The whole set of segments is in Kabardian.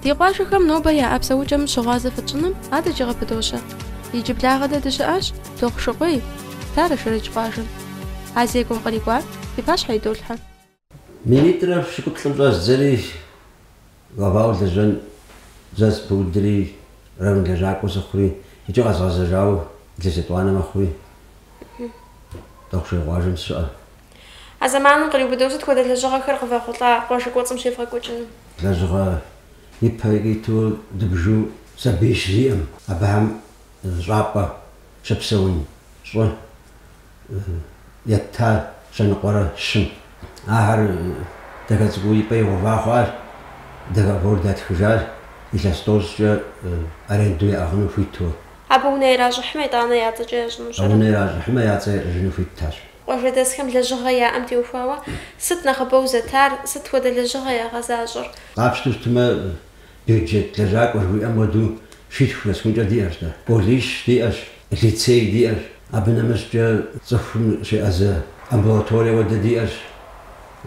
Ди къуажэхэм нобэ яӏэ псэукӏэм щыгъуазэ фытщӏыным адэкӏи къыпыдощэ. Иджыблагъэ дэ дыщыӏащ Дохъушыкъуей, Старэ Шэрэдж къуажэм. А зекӏуэм кърикӏуар ди пащхьэ идолъхьэ. Минитӏрэ пщыкӏуплӏым щӏэздзэри главауэ лэжьэн зэспыудри, район лэжьакӏуэ сыхъури, икӏи къэзгъэзэжауэ илъэс етӏуанэ мэхъури, Дохъушыкъуей къуажэм сыщыӏэ. А зэманым къриубыдэу сыт хуэдэ лэжьыгъэхэр къывэхъулӏа къуажэ кӏуэцӏым щевгъэкӏуэкӏыну? Лэжьыгъэ ипэ икӏи иту дыбжу сабий щы зиӏэм, абыхэм щӏапӏэ щыпсэун щӏы, еттащ щэныкъуэрэ щым. Ахэр дахэ цӏыкӏуу и пӏэ игъэува хъуащ, договор датхыжащ, илъэс тӏощӏкӏэ аренду яӏыгъыну хуиту. Абы унэ иращӏыхьмэ, итӏанэ я цӏэкӏэ ящӏыну А щӏыр? унэ иращӏыхьмэ, я цӏэ ящӏыжыну хуиттащ. Къуажэдэсхэм лэжьыгъэ яӏэм теухуауэ сыт нэхъыбэу зэтар, сыт хуэдэ лэжьыгъэ ягъэзащӏэр? Къапщту щытмэ, Бюджет лэжьакӏуэ жыхуиӏэм хуэдэу щитху нэсхункӏэ диӏэщ дэ. Колледж диӏэщ, лицей диӏэщ, абы нэмыщӏкӏэ цӏыхум щеӏэзэ амбулаторие хуэдэ диӏэщ.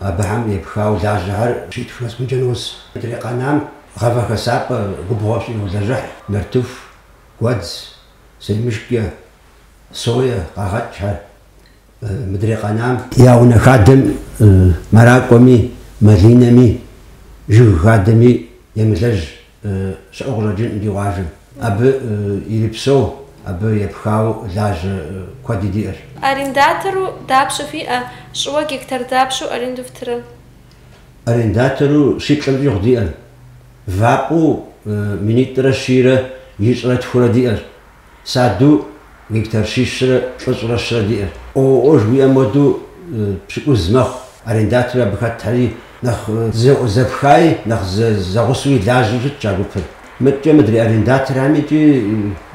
Абыхэм епхауэ лажьэхэр щитху нэсхункӏэ нос. Мыдрей къэнам гъавэ хэсапӏэ губгъуэ щӏы йолэжьыхь, нартыху, гуэдз, семышкэ, сое къагъэкӏхэр. мыдрей къэнам я унэ хадэм мэракӏуэми, малинэми, жыг хадэми емылэжь щыӏэу къыщӏэкӏынкъым ди къуажэм. Абы ирипсэу, абы епхауэ лажьэ куэди диӏэщ. Арендатору дапщэ фиӏэ? Щӏыуэ гектар дапщэу аренду фтырэ? Арендатору щиплӏым щӏигъу диӏэщ. Вапӏэу минитӏрэ щийрэ ищӏрэ тхурэ диӏэщ. Садэу гектар щищрэ плӏыщӏрэ щырэ диӏэщ. ООО жыхуиӏэм хуэдэу пщыкӏуз мэхъу. Арендатору абы хэтхэри, нэхъ зэпхаи, нэхъ зэгъусэуи лажьэу щытщ а гупыр. Мыдэкӏэ мыдрей арендаторхэм икӏи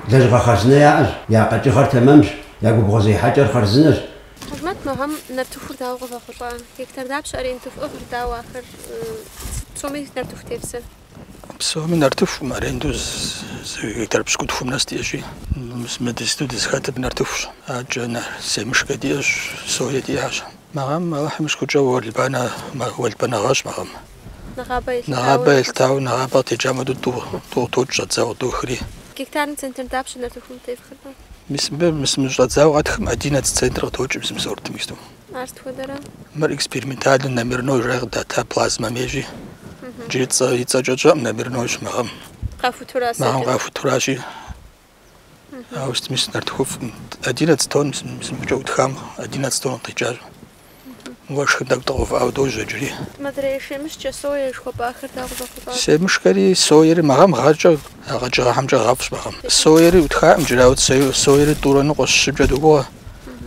лэжьыгъэ хъарзынэ яӏэщ, я къэкӏыгъэр тэмэмщ, я губгъуэзехьэкӏэр хъарзынэщ. Хьэжмэт мы гъэм нартыхур дауэ къывэхъулӏа? Гектар дапщэ аренду фӏыгъыр, дауэ ахэр? Сыт псоми нартыху тепсэ. Псоми нартыхум аренду гектар пщыкӏутхум нэс диӏэщи, мы иджыпсту дызхэтыр нартыхущ. Адэкӏэ семышкэ диӏэщ, сое диӏащ. Мы гъэм Алыхьым и шыкуркӏэ уэлбанэ уэлбанэ гъэщ мы гъэм. Нэгъабэ елъытауэ. Нэгъабэ елъытауэ, нэгъабэ къытекӏам хуэдэу тӏу къытокӏ щӏэдзауэ къыдохри. Гектарым центнер дапщэ нартыхум тефхыр? Мис мыбы мис мы щӏэдзауэ къэтхым одиннадцать центнер къытокӏ мис мы сортым иджыпсту. Ар сыт хуэдэрэ? Мыр экспериментальнэ номерной жаӏэ къыдата плазмэм ейщи. Джыри и цӏэкӏэ тщӏэӏым номернойщ мы гъэм. Къахутура Мы гъэм къахутуращи. Ауэ сытми нартыхуфӏщ. Одиннадцать тонн мис мыбыкӏэ ӏутхам одиннадцать тонн къикӏащ. Уэшхым тӏэкӏу дыкъигъэувыӏауэ дожьэ джыри. Мыдрей семышкэ, соя жыхуэпӏахэр дауэ къывэхъулӏа? Семышкэри соери мы гъэм гъэкӏэ къэкӏыгъэхэмкӏэ гъэфӏщ мы гъэм. Соери ӏутхаӏым джыри, ауэ соери тӏурэ ныкъуэ, щыкӏэ догугъэ.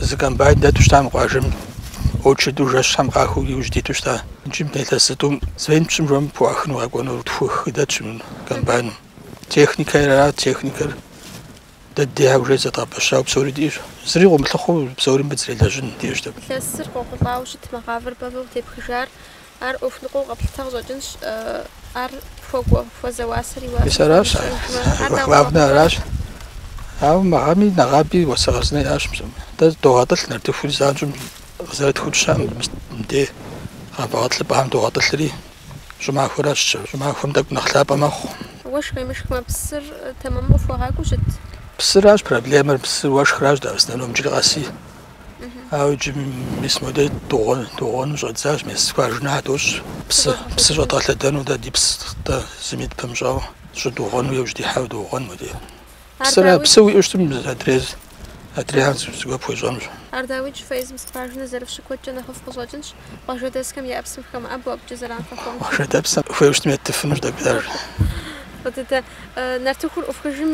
Зы комбайн дэту щыта мы къуажэм, очереду жэщхэм къахыу иужь диту щыта. Иджы илъэс зытӏум звен пщӏым жом пхуӏуахыну къэкӏуэнур тху-хы дэтщ мы комбайным. Техникэ ара, техникэр дэ дей уже зэдгъэпэщау псори диӏэщ. Зыри къыумылъыхъуэу псори мыбы зэрелэжьын диӏэщ. Илъэсыр къохъулӏауэ щытмэ, гъавэр бэвэу тепхыжар Ар ӏуэху ныкъуэу къэплъытэ къыщӏэкӏынщ, ар хуэкӏуэ, хуэзэ уасэр и уасэ мис аращ, ар щӏыхуэ главнэ аращ. Ауэ мы гъэми нэгъаби уасэ хъарзынэ иӏащ псом. Дэ догъэтӏылъ нартыхури занщӏэм къызэрыӏутхыу тщэӏым, мис мыде гъавэ гъэтӏылъыпӏэхэм догъэтӏылъри, щӏымахуэращ, щӏымахуэм тӏэкӏу нэхъ лъапӏэ мэхъу. Уэшх къемышхмэ псыр тэмэму къыфхуэгъакӏуэу щыт? Псыращ проблемэр, псы уэшхращ дэ основном, джыри къэси. Ауэ иджы мис модэ дугъуэну щӏэддзащ, мис скважинэ дощӏ. Псы псы щӏэдгъэлъэдэну дэ ди псы дэ зыми дыпымыщӏауэ щӏы дугъуэну яужь дихьауэ доугъуэн модэ. Псыр псы уиӏэу щытым адрей адрейхэм зыгуэр пхуещӏэнущ. Ар дауикӏ фэ езым скважинэ зэрыфщӏыр куэдкӏэ нэхъыфӏ къыщӏэкӏынщ, къуажэдэсхэм я псым хэмыӏэбэу абыкӏэ зэран фахуэмыхъуу. Къуажэр псым хуейуэ щытым еттыфынущ дэ ар. Фӏы дыдэ. Нартыхур ӏуфхыжым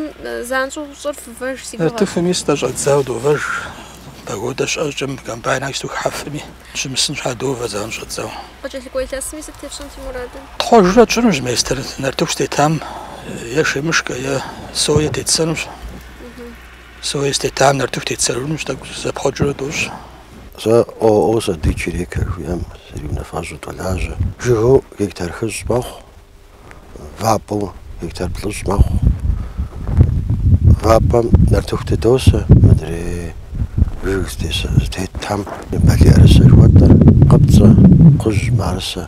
занщӏэу щӏыр фывэж си гугъэщ. Нартыхуми сытӏэ щӏэддзау довэж. Погодэ щыӏэ щӏыкӏэ, комбайнхэр исту хыхьэфми, щымысын щхьа довэ занщӏэу щӏэддзау. Къыкӏэлъыкӏуэ илъэсми сыт тепщӏэн фи мурадыр? Тхъуэжурэ тщӏынущ местэр нартыху щытетам е шемышкэ, е сое тетсэнущ. Сое щытетам нартыху тетсэжынущ, тӏэкӏу зэпхъуэкӏыурэ дощӏ. Сэ ООО Сады Черека жиӏэм сриунафэщӏу долажьэ. Жыгыу гектар хыщӏ мэхъу, вапӏэу гектар плӏыщӏ мэхъу. Вапӏэм нартыху тыдосэ мыдрей жыг зытетхэм балий ӏэрысэ жыхуэтӏэр, къыпцӏэ, кхъужь, мыӏэрысэ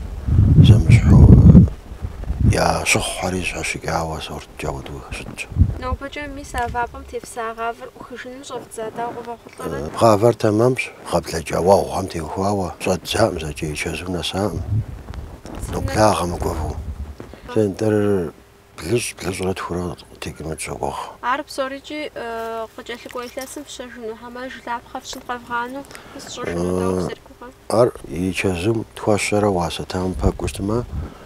зэмыщхьу я щыхъухэри зэщхьэщыкӏауэ сорткӏэ апхуэдэу щытщ. Нобэкӏэ мис а вапӏэм тефса гъавэр ӏухыжыным щӏэфдза дауэ къывэхъу? Гъавэр тэмэмщ, гъэ блэкӏа уэгъухэм теухуауэ. Щӏэддзакъым зэкӏэ, и чэзум нэсакъым. Ноблагъэ мыгувэу. Центнер блыщӏ, блыщӏрэ тхурэ къытекӏыну тщогугъ. Ар псорикӏи къыкӏэлъыкӏуэ илъэсым фщэжыну, хьэмэ жылапхъэ фщӏын къэвгъэнэну, къысщӏыжыну, тӏэу, сыргугъэ. Ар и чэзум тхуэщэрэ уасэ тэмэм пэкӏуэу щытмэ,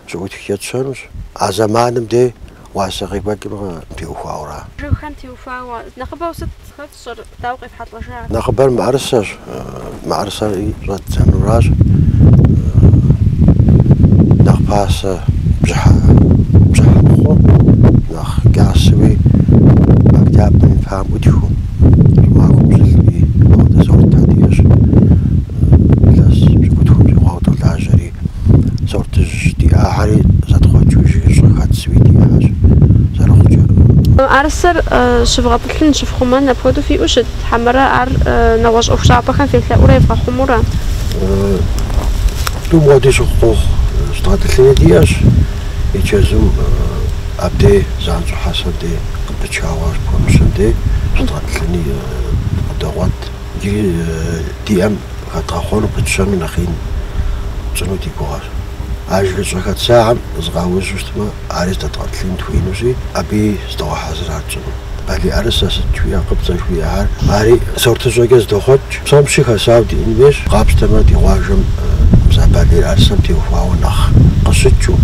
щыӏутхкӏэ тщэнущ. А зэманым де уасэ къекӏуэкӏым къытеухуауэра? Жыгхэм теухуауэ нэхъыбэу сыт хэфсэр, дауэ къефхьэлӏэжар? Нэхъыбэр мыӏэрысэщ. Мыӏэрысэри щӏэддзэнуращ нэхъ пасэ бжьыхьэ мыхъуу, нэхъ кӏасэуи октябрым и пэм ӏутхыу. ӏэрысэр щывгъэтӏылъын щыфхъумэн апхуэдэу фиӏэу щыт, хьэмэрэ ар нэгъуэщӏ ӏуэхущӏапӏэхэм фелъэӏурэ евгъэхъумурэ? Тӏум хуэдэу щыхъу къохъу. Щыдгъэтӏылъыни диӏэщ и чэзум, абдей занщӏэу хьэсэм дей. Пычауэ ар пхуэмыщэн дей щыдгъэтӏылъыни къыдогъуэт. Иджыри ди ӏэм хэдгъэхъуэну пытщэну нэхъ ин тщӏыну ди гугъэщ. А жыгыщӏэ хэтсахэм зыкъаужьу щытмэ, ари здэдгъэтӏылъын дыхуеинущи, абыи зыдогъэхьэзыр ар тщӏыну. Балий ӏэрысэ сыт жыпӏэ къыпцӏэ жыхуиӏэхэр, ари сортыщӏэкӏэ здохъуэкӏ. Псом щыщи хэсауэ диӏэн хуейщ, къапщтэмэ, ди къуажэм мис а балий ӏэрысэм теухуауэ нэхъ къыщыкӏыу,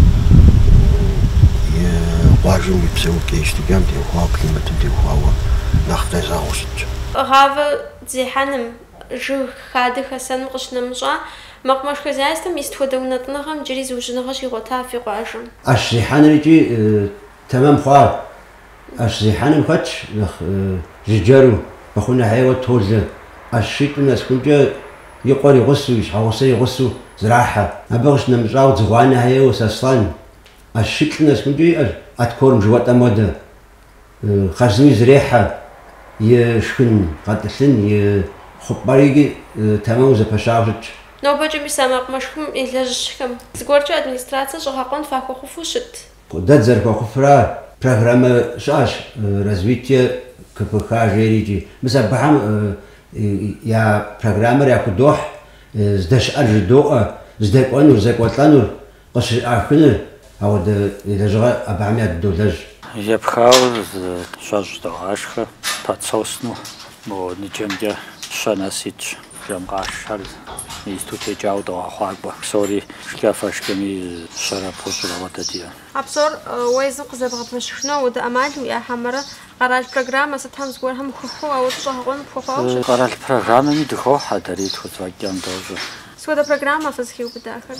и къуажэм и псэу кӏэщ, дыгъэм теухуауэ, климатым теухуауэ нэхъ къезэгъыу щытщ. Гъавэ зехьэным, жыг хадэ хэсэным къыщынэмыщӏа, мэкъумэш хозяйствэм и сыт хуэдэ унэтӏыныгъэм иджыри зыужьыныгъэ щигъуэта фи къуажэм? ӏэщ зехьэныр икӏи тэмэм хъуар. ӏэщ зехьэным хэтщ нэхъ жыджэру, Бэхъунэхьейуэ Толэ. ӏэщ щитӏым нэсхункӏэ и къуэр игъусу, и щхьэгъусэр игъусу зрахьэ. Абы къыщынэмыщӏауэ Дзыгъуанэхьейуэ Сослан, ӏэщ щитӏ нэсхукӏэ иӏэщ откорм жыхуэтӏэм хуэдэ. Хъарзыни зрехьэ и шхын гъэтӏылъын, и хъупӏэр икӏи тэмэму зэпэщагъэу щытщ. Нобэкӏэ мис а мэкъумэшым илэжьыхьхэм зыгуэркӏэ администрацэ щӏыгъэкъуэн фахуэхъуфу щыт. Дэ дызэрыхуэхъуфыр ар. Программэ щыӏэщ Развитие КФХ жери икӏи. Мис абыхэм я программэр яхудохь, здэщыӏэр жыдоӏэ, здэкӏуэнур, зэкӏуэлӏэнур, къыщыӏахыну ауэдэ и лэжьыгъэр абыхэми ядыдолэжь. Епхауэ зы щэщӏ догъашхэ, подсосну мо ныджэмкӏэ щэ нэс итщ, жэм къашхэр иту текӏауэ догъэхъуакӏуэ, псори шкӏэ-фэшкӏэми щэрэ тӏощӏрэ хуэдэ диӏэ. А псор уэ езым къызэбгъэпэщыхыну ауэдэ ӏэмал уиӏэ хьэмэрэ? Къэрал программэ сытхэм зыгуэрхэм хыхьэу ауэ щӏэгъэкъуэну пхуэхъуауэ щыт. Къэрал программэми дыхохьэ, дэри тхузэфӏэкӏым дощӏэ. Сыт хуэдэ программэ фызыхиубыдахэр?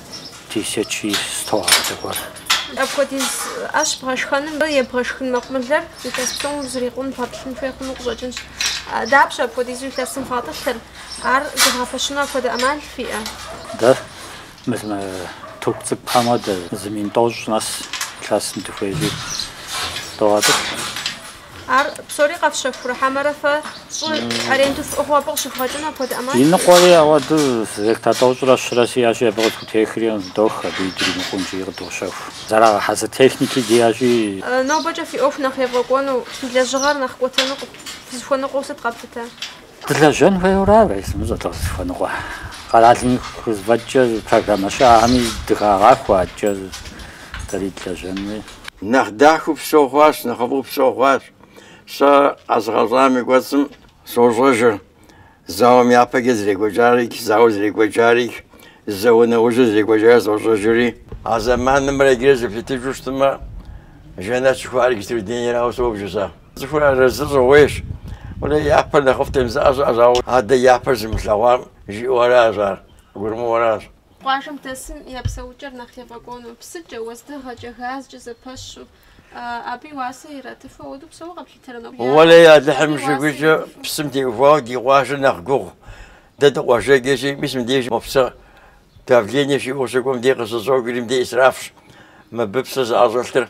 тысячи сто адэ гуэр. Апхуэдиз ӏэщ бгъэшхэным абы ебгъэшхын мэкъумылэр илъэс псом узрикъун, бгъэтӏылъын хуей хъуну къыщӏэкӏынщ. Дапщэ апхуэдизу илъэсым фгъэтӏылъыр? Ар зывгъэпэщыну апхуэдэ ӏэмал фиӏэ? Дэ мы тюк цӏыкӏухэм хуэдэ зы мин тӏощӏ нэс илъэсым дыхуейри догъэтӏылъ. Ар псори къэфщэхурэ хьэмэрэ фэ щӏы аренду фӏыгъыу абы къыщывгъэкӏыну апхуэдэ ӏэмал? И ныкъуэри ауэ дэ, гектар тӏощӏрэ щырэ сиӏэщи, абы къытхутехри къытыдох, абы дримыкъунущи къыдощэху. Зэрагъэхьэзыр техники диӏэщи. Нобэкӏэ фи ӏуэху нэхъ евгъэкӏуэну, фи лэжьыгъэр нэхъ кӏуэтэну фызыхуэныкъуэу сыт къэплъытэр? Дылэжьэн хуейуэ ара уэ сымыщӏэ дызыхуэныкъуэр. Къэралым и хузэфӏэкӏкӏэ программэ щыӏэхэми дыхагъэхуэ адэкӏэ дэри дылэжьэнуи. Нэхъ дахэу псэу хъуащ, нэхъыфӏу псэу хъуащ. Сэ къэзыгъэщӏам и кӏуэцӏым сощӏэжыр, зауэм япэкӏэ зэрекӏуэкӏар икӏ, зауэ зэрекӏуэкӏар икӏ, зэ унэужьыр зрекӏуэкӏар сощӏэжыри. А зэманымрэ иджырэ зэплъытыжу щытмэ, Жэнэт жыхуаӏэр иджыпстурей дунейрауэ собж сэ. Цӏыхур арэзы щӏыгъуейщ. Уэлэ япэр нэхъыфӏтэм жызыӏэ щыӏэщ, ауэ адэ япэр зымылъэгъуам жиӏэу аращ ар, къыгурымыӏуэращ. Къуажэм дэсым я псэукӏэр нэхъ ефӏэкӏуэну, псыкӏэ, уэздыгъэкӏэ, газкӏэ зэпэщу, абы и уасэ иратыфу апхуэдэу псори къэплъытэрэ? Уэлэхьи, Алыхьым и шыкуркӏэ псым теухуауэ ди къуажэр нэхъ гугъу. Дэ дыкъуажэкӏэщи, мис мыбдеж мо псы давление щиӏэу щыкӏуэм, дей къыщыщӏокӏри, мыбдеж исрафщ. Мыбы псы зыӏэщӏэлъыр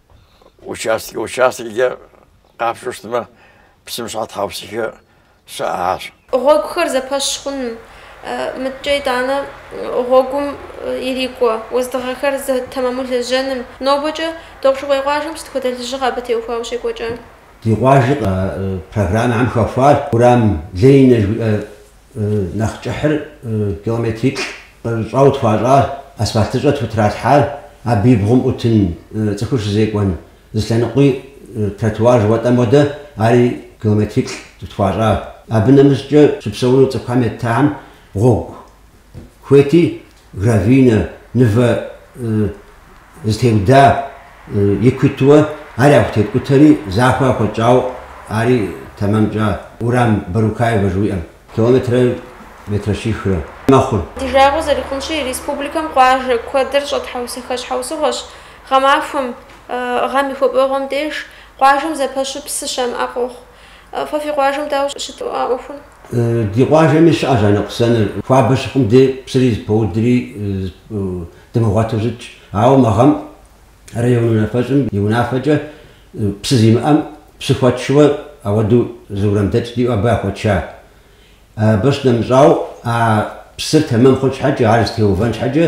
Участкэ-участкэкӏэ къапщтэу щытмэ, псым щхьа тхьэусыхэ щыӏэхэщ. Гъуэгухэр зэпэщ хъуным. Мыдкӏэ итӏанэ гъуэгум ирикӏуэ уэздыгъэхэр зэтэмэму лэжьэным. Нобэкӏэ Дохъушыкъуей къуажэм сыт хуэдэ лэжьыгъэ абы теухуауэ щекӏуэкӏа? Ди къуажэр программэхэм хэхуащ Уэрам Ленинэ жыӏэ Нэхъ кӏыхьыр километриплӏ щӏэрыщӏэу тхуащӏа асфальтыщӏэ тхутралъхьар, абы и бгъум ӏутын цӏыхур щызекӏуэн зы лъэныкъуи тротуар жыхуэтӏэм хуэдэ, ари километриплӏ тхуащӏа. Абы нэмыщӏкӏэ щыпсэуну цӏыхухэм еттахэм гъуэгу хуейти, Гравийнэ, мывэ зытеуда и куитуэ ар яхутеткӏутэри, захуэ яхуэтщӏауэ ари тэмэм тщӏа. Уэрам Барукаевэ жыуиӏэм, километрэ метрэ щихрэ мэхъур. Ди жагъуэ зэрыхъунщи, республикэм къуажэ куэдыр щӏэтхьэусыхэ щхьэусыгъуэщ. Гъэмахуэм, гъэм и хуабэгъуэм деж, къуажэм зэпэщу псы щамыӏэ къохъу. Фэ фи къуажэм дауэ щыт а ӏуэхур? Ди къуажэми щыӏэщ а ныкъусаныр. Хуабэ щыхъум де псыри зэпоудри дымыгъуэту щытщ. Ауэ мы гъэм район унафэщӏым и унафэкӏэ псы зимыӏэм псы хуэтшэу ауэдэу зы уэрамдэкӏ диӏэу абы яхуэтша. Абы щынэмыщӏауэ, а псыр тэмэм хъун щхьэкӏэ, ар зытеувэн щхьэкӏэ,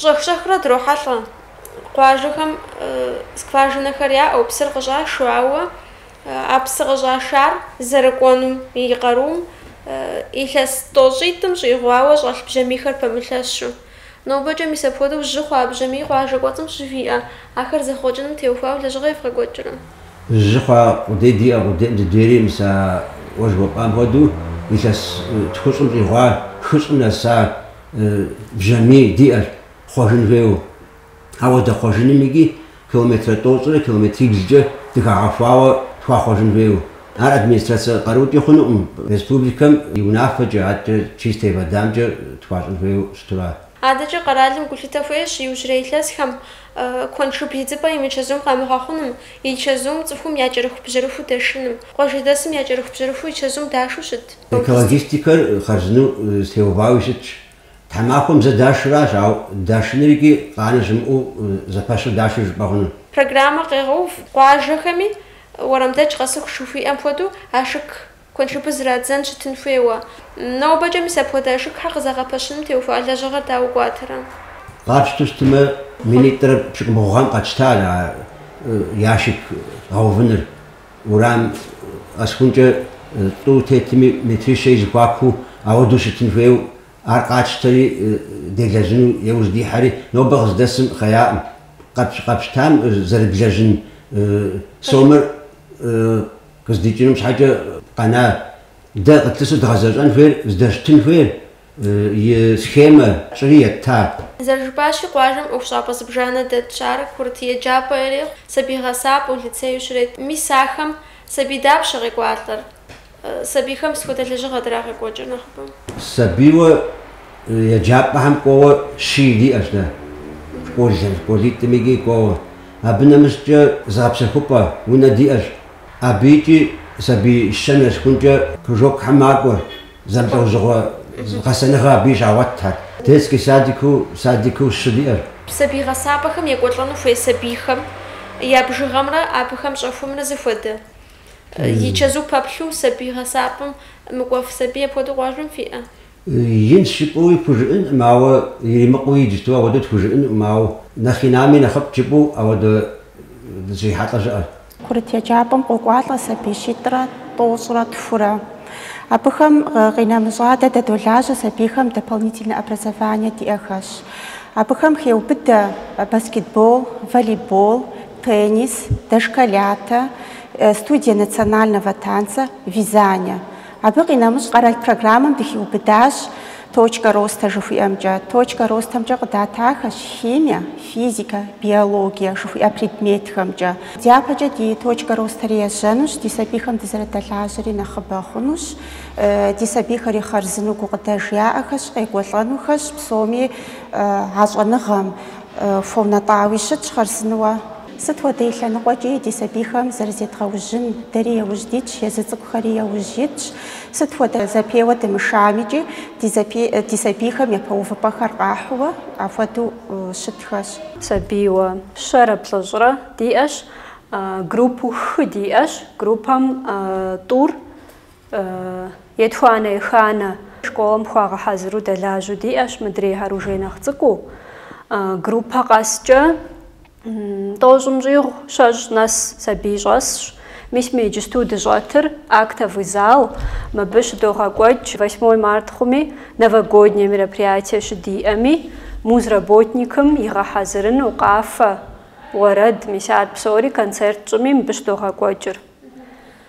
Щӏэх-щӏэхыурэ дрохьэлӏэ. Къуажэхэм скважинэхэр яӏэу псыр къыщӏашу, ауэ а псы къыщӏашар зэрыкӏуэнум и къарум илъэс тӏощӏитӏым щӏигъуауэ щӏэлъ бжьамийхэр пэмылъэщу. Нобэкӏэ мис апхуэдэу жьы хъуа бжьамий къуажэ кӏуэцӏым щыфиӏэ, ахэр зэхъуэкӏыным теухуауэ лэжьыгъэ евгъэкӏуэкӏрэ? Жьы хъуа къудей диӏэ, къудейм дыдейри мис а уэ жыпӏам хуэдэу илъэс тхущӏым щӏигъуа хыщӏым нэса бжьамий диӏэр, хъуэжын хуейуэ. Ауэ дэ хъуэжыным икӏи километрэ тӏощӏрэ километриблкӏэ дыхагъэхуауэ тхуахъуэжын хуейуэ. Ар администрацэ къарукӏи хъунукъым, республикэм и унафэкӏэ, адэкӏэ чистэй водамкӏэ тхуащӏын хуейуэ щытура? Адэкӏэ къэралым гулъытэ хуещӏ иужьрей илъэсхэм куэншыб идзыпӏэ и мычэзум къамыгъэхъуным, и чэзум цӏыхум я кӏэрыхубжьэрыху дэшыным. Къуажэдэсым я кӏэрыхубжьэрыху и чэзум дашу щыт? Экологистикэр хъарзынэу теувауи щытщ. Тхьэмахуэм зэ дашыращ, ауэ дашыныр икӏи къанэ щымыӏэу зэпэщу дашыр жыпӏэ хъуну. Программэм къегъэув къуажэхэми, уэрамдэкӏ къэсыху жыхуиӏэм хуэдэу, ашык куэншыбыр зрадзэн щытын хуейуэ. Нобэкӏэ мис апхуэдэ ашыкхэр къызэгъэпэщыным теухуа лэжьыгъэр дауэ кӏуатэрэ? Къапщту щытмэ, минитӏрэ пщыкӏубгъу гъэм къэтщтащ а ящик гъэувыныр. Уэрам къэсыхункӏэ тӏу тетми, метрищэ и зэхуакуу, ауэдэу щытын хуейуэ, ар къатщтэри, делэжьыну иужь дихьэри, нобэ къыздэсым хъеякъым. Къэпщ, къэпщтам зэрыблэжьын сомэр къыздикӏыным щхьэкӏэ къэна. Дэ къытлъысу дгъэзэщӏэн хуейр, здэщытын хуейр, и схемэ тщӏыри етта. Зэрыжыпӏащи, къуажэм ӏуэхущӏапӏэ зыбжанэ дэтщ. Ар курыт еджапӏэ ирехъу, сабий гъэсапӏэу, лицею щрет. Мис ахэм сабий дапщэ къекӏуалӏэр? Сабийхэм сыт хуэдэ лэжьыгъэ драгъэкӏуэкӏыр нэхъыбэу? Сабийуэ еджапӏэхэм кӏуэуэ щий диӏэщ дэ, школым, школитӏым икӏи кӏуэуэ. Абы нэмыщӏкӏэ зыгъэпсэхупӏэ унэ диӏэщ. Абыкӏи сабий щэ нэсхункӏэ кружокхэм макӏуэр, Зэмылӏэужьыгъуэ гъэсэныгъэ абы щагъуэтхэр. Детский садикыу, садикыу щы диӏэр. Сабий гъэсапӏэхэм екӏуэлӏэну хуей сабийхэм я бжыгъэмрэ абыхэм щӏэхуэмрэ зэхуэдэ. И чэзу пэплъэу сабий гъэсапӏэм мыкӏуэф сабий апхуэдэу къуажэм фиӏэ? Инщ жыпӏэуи пхужыӏэнкъым, ауэ иримыкъуу иджыпсту ауэдэу тхужыӏэнукъым, ауэ нэхъ инами нэхъыфӏт жыпӏэу ауэдэ зрихьэлӏэ жыӏэр. Курыт еджапӏэм къокӏуалӏэ сабий щитӏрэ тӏощӏрэ тхурэ. Абыхэм къинэмыщӏа дэ дэдолажьэ сабийхэм дополнительнэ образование диӏэхэщ. Абыхэм хеубыдэ баскетбол, волейбол, теннис, дошколятэ, студие национального танца, вязание. Абы къинэмыщӏ къэрал программэм дыхиубыдащ Точка роста жыхуиӏэмкӏэ. Точка ростамкӏэ къыдатахэщ химие, физикэ, биологие жыхуиӏэ предметхэмкӏэ. Дяпэкӏэ ди Точка ростэр ежьэнущ, ди сабийхэм дызэрыдэлажьэри нэхъыбэ хъунущ, ди сабийхэри хъарзыну гукъыдэж яӏэхэщ, къекӏуэлӏэнухэщ, псоми а щӏэныгъэм хуэунэтӏауи щытщ хъарзынуэ. Сыт хуэдэ и лъэныкъуэкӏи ди сабийхэм зэрызедгъэужьын, дэри яужь дитщ, езы цӏыкӏухэри яужь итщ. Сыт хуэдэ зэпеуэ дымышамикӏи, ди сабийхэм япэ увыпӏэхэр къахьууэ, апхуэдэу щытхэщ. Сабийуэ щэрэ плӏыщӏрэ диӏэщ, группэу хы диӏэщ, группэм тӏур, етхуанэ-еханэ, школэм хуагъэхьэзыру дэлажьэу диӏэщ, мыдрейхэр уже нэхъ цӏыкӏуу, группэ къэскӏэ Тӏощӏым щӏигъу щэщӏ нэс сабий щӏэсщ. Мис мы иджысту дыщӏэтыр актовый зал, мыбы щыдогъэкӏуэкӏ восьмой март хъуми, новогоднее мероприятие щыдиӏэми, музработникым игъэхьэзырыну, къафэ, уэрэд, мис ар псори концерт тщӏыми мыбы щыдогъэкӏуэкӏыр.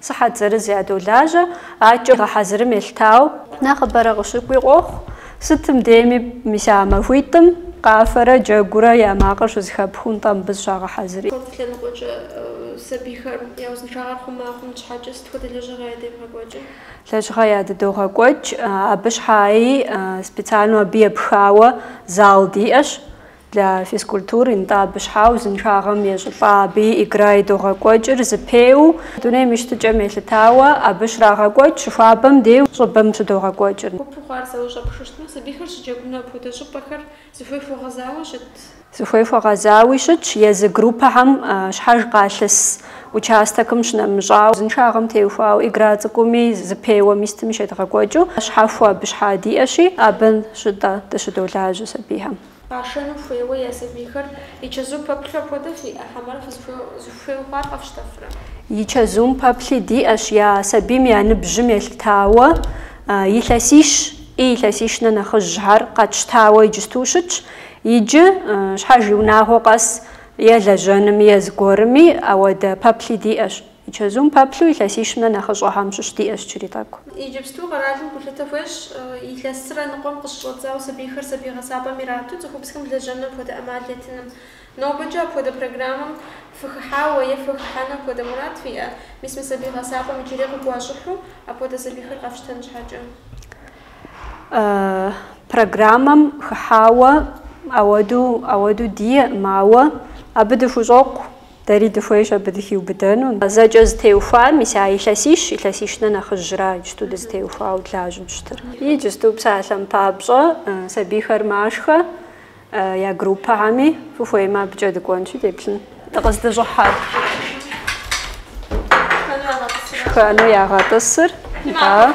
Сыхьэт зырыз ядолажьэ, акӏэ гъэхьэзырым елъытауэ. Нэхъыбэрэ къыщыкӏуи къохъу, сытым деми мис а махуитӏым къафэрэ джэгурэ я макъыр щызэхэпхыу нтӏэ мыбы зыщагъэхьэзыри. Хэт лъэныкъуэкӏэ сабийхэр я узыншагъэр хъума хъун щхьэкӏэ сыт хуэдэ лэжьыгъэ ядевгъэкӏуэкӏыр? Лэжьыгъэ ядыдогъэкӏуэкӏ, абы щхьаи специальнэу абы епхауэ зал диӏэщ. Для физкультуры нтӏэ абы щхьа узыншагъэм ещӏылӏа абыи игра идогъэкӏуэкӏыр, зэпеуэ, дунейм и щытыкӏэм елъытауэ, абы щрагъэкӏуэкӏ, щыхуабэм деу щӏыбэм щыдогъэкӏуэкӏыр. Гупу хъуар сэ ущӏэпхыжтмэ, сабийхэр щыджэгуну апхуэдэ щӏыпӏэхэр зыхуей хуэгъэзауэ щыт. Зыхуей хуэгъэзауи щытщ, езы группэхэм щхьэж къалъыс участэкым щынэмыщӏа, узыншагъэм теухуауэ, игра цӏыкӏуми, зэпеуэми сытми щедгъэкӏуэкӏыу, щхьэхуэ абы щхьа диӏэщи, абы щытӏэ дыщыдолажьэ сабийхэм. Къашэну хуейуэ я сабийхэр и чэзум пэплъу апхуэдэу фиӏэ хьэмэрэ фызыхуей хъуар къэфщтэфрэ? И чэзум пэплъи диӏэщ я сабийм я ныбжьым елъытауэ, илъэсищ и илъэсищ нэхъ нэхъыжьхэр къэтщтауэ иджысту щытщ. Иджы, щхьэж и унагъуэ къэс е лэжьэнми е зыгуэрми ауэдэ пэплъи диӏэщ. И чэзум пэплъу илъэсищым нэ нэхъыщӏэхьэм щыщ диӏэщ очередь тӏэкӏу. Иджыпсту къэралым гулъытэ хуещӏ, илъэсрэ ныкъуэм къыщыщӏэдзауэ сабийхэр сабий гъэсапӏэм ирату цӏыхубзхэм лэжьэну апхуэдэ ӏэмал етыным. Нобэкӏэ апхуэдэ программэм фыхыхьауэ е фыхыхьэну апхуэдэ мурад фиӏэ? Мис мы сабий гъэсапӏэм иджыри къыгуащӏыхьу апхуэдэ сабийхэр къэфщтэн щхьэкӏэ. Программэм хыхьауэ ауэду, ауэду диӏэкъым, ауэ абы дыхущӏокъу. Дэри дыхуейщ абы дыхиубыдэну. Зэкӏэ зытеухуар мис а илъэсищ, илъэсищ нэ нэхъыжьра иджыту дызытеухуауэ длажьэу щытыр. Иджысту псалъэм папщӏэ, сабийхэр машхэ, я группэхьэми, фыхуеймэ абыкӏэ дыкӏуэнщи, деплъын. Дыкъыздыщӏыхьар шхэну ягъэтӏысыр, да.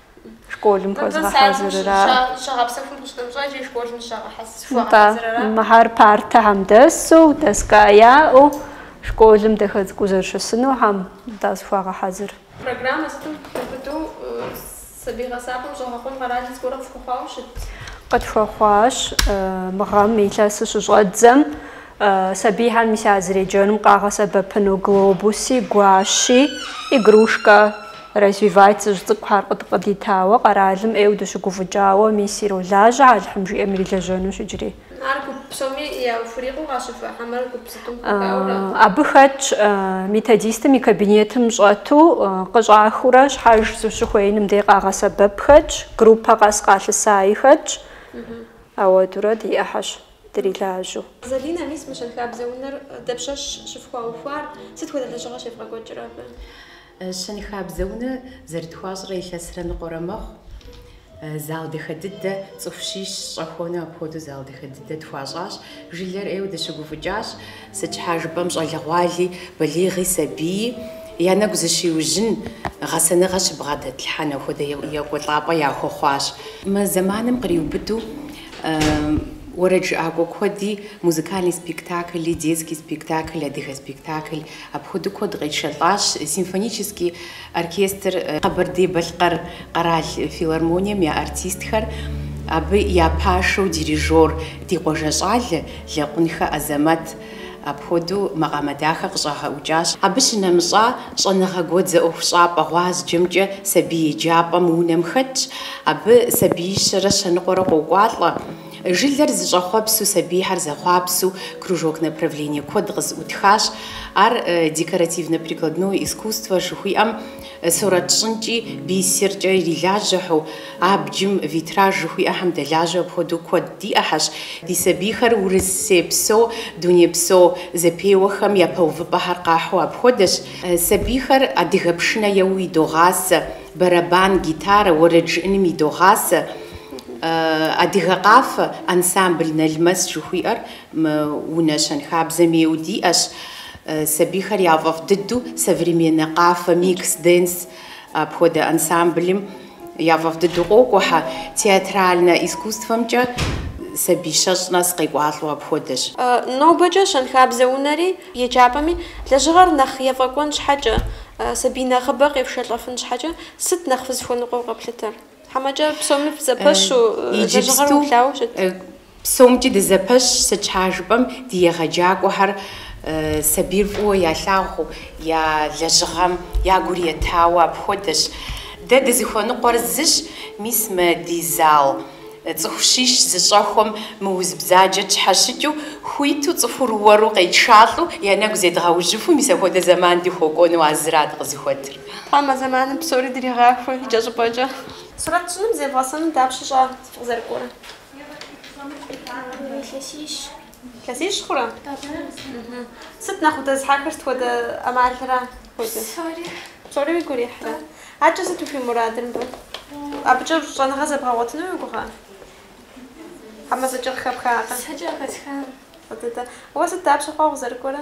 школым хуэзгъэхьэзырыра? Нтӏэ, мыхьэр партэхьэм дэсу, доска яӏэу, школым дахэ цӏыкӏуу зэрыщысынухьэм, нтӏэ, зыхуагъэхьэзыр. Программэ сытым хиубыдэу сабий гъэсапӏэм щӏэгъэкъуэн къэрал зыгорэ къыфхуэхъуауэ щыт? Къытхуэхъуащ. Мы гъэм илъэсыр щыщӏэдзэм, Сабийхьэм мис а зэреджэным къагъэсэбэпыну глобуси, гуащи, игрушка, развивать зыщӏ цӏыкӏухэр къыд къыдитауэ, къэралым ӏейуэ дыщыгуфӏыкӏауэ мис иролажьэ Алыхьым жиӏэм ирилэжьэнущ иджыри. Ар гуп псоми яхурикъуу къащэхуа хьэмэр гуп зытӏум хуэхауэра? Абы хэтщ методистым и кабинетым щӏэту къыщӏахыурэ щхьэж зыщыхуеиным дей къагъэсэбэп хэтщ, группэ къэс къалъысаи хэтщ. Ауэдурэ диӏэхьэщ. дрилажьэу. Залинэ, мис мы щэнхабзэ унэр дапщэщ щыфхуаухуар, сыт хуэдэ лэжьыгъэ щевгъэкӏуэкӏыр абы? Щэнхабзэ унэ зэрытхуащӏрэ илъэсрэ ныкъуэрэ мэхъу. Зал дахэ дыдэ, цӏыху щищ щӏэхуэну апхуэдэу зал дахэ дыдэ тхуащӏащ. Жылэр ӏейуэ дыщыгуфӏыкӏащ. Сыт щхьа жыпӏэм щӏалэгъуали, балигъи, сабийи я нэгу зыщиужьын, гъэсэныгъэ щыбгъэдэтлъхьэн апхуэдэ екӏуэлӏапӏэ яхуэхъуащ. Мы зэманым къриубыдэу Уэрэд жыӏакӏуэ куэди музыкальный спектакли, детский спектакль, адыгэ спектакль апхуэдэу куэд къетшэлӏащ. Симфонический оркестр Къэбэрдей-Балъкъэр къэрал филармонием я артистхэр, абы я пашэу дирижёр ди къуажэ щӏалэ Лэкъунхэ Азэмэт, Апхуэдэу макъамэ дахэ къыщӏагъэӏукӏащ. Абы щынэмыщӏа, щӏэныгъэ гуэдзэ ӏуэхущӏапӏэ гъуазджэмкӏэ сабий еджапӏэ мы унэм хэтщ. Абы сабиищэрэ щэныкъуэрэ къокӏуалӏэ. Жылэр зыщӏэхъуэпсу сабийхэр зэхъуапсэу кружок направление куэд къызыӏутхащ. Ар декоративно-прикладное искусство жыхуиӏэм Сурэт щӏынкӏи, бисеркӏэ ирилажьэхэу, абджым витраж жыхуиӏэхэм дэлажьэу апхуэдэу куэд диӏэхьэщ. Ди сабийхэр урысейпсо, дунейпсо зэпеуэхэм япэ увыпӏэхэр къахьу апхуэдэщ. Сабийхэр адыгэ пшынэ еуэу идогъасэ, бэрэбан, гитарэ, уэрэд жыӏэным идогъасэ. Адыгэ къафэ ансамбль Налмэс жыхуиӏэр мы унэ щэнхабзэм ейуэ диӏэщ. Сабийхэр я фӏэфӏ дыдэу современнэ къафэ микс денс апхуэдэ ансамблым я фӏэфӏ дыдэу къокӏуэхэ. Театральнэ искусствэмкӏэ сабий щэщӏ нэс къекӏуалӏэу апхуэдэщ. Нобэкӏэ щэнхабзэ унэри, еджапӏэми, лэжьыгъэр нэхъ ефӏэкӏуэн щхьэкӏэ, сабий нэхъыбэ къефшэлӏэфын щхьэкӏэ сыт нэхъ фызыхуэныкъуэу къэплъытэр? Хьэмэ иджы псоми фызэпэщ иджыпсту? Псомкӏи дызэпэщщ, сыт щхьа жыпӏэм ди егъэджакӏуэхэр сабийр фӏыуэ ялъагъуу я лэжьыгъэм я гур етауэ апхуэдэщ. Дэ дызыхуэныкъуэр зыщ, мис мы ди зал цӏыху щищ зыщӏэхуэм мы уз бзаджэр тщхьэщыкӏыу, хуиту цӏыхур уэру къетшалӏэу я нэгу зедгъэужьыфу, мис апхуэдэ зэман дыхуэкӏуэну а зырат къызыхуэтыр. Тхьэм а зэманым псори дригъахуэ икӏэщӏыпӏэкӏэ. Сурэт щӏыным зевгъэсэным дапщэ щӏа укъызэрыкӏуэрэ? Илъэсищ. Илъэсищ хъурэ? Сыт нэхъ удэзыхьэхыр сыт хуэдэ ӏэмалра хуэдэ? Псори. Псори уигу ирихьрэ? Адэкӏэ сыт ухуи мурадыр мыбы? Абыкӏэ щӏэныгъэ зэбгъэгъуэтыну уи гугъэ? Хьэмэ зэкӏэ къыхэпхакъэ? Зэкӏэ къыхэсхакъэ. Фӏы дыдэ. Уэ сыт дапщэ хъуа укъызэрыкӏуэрэ?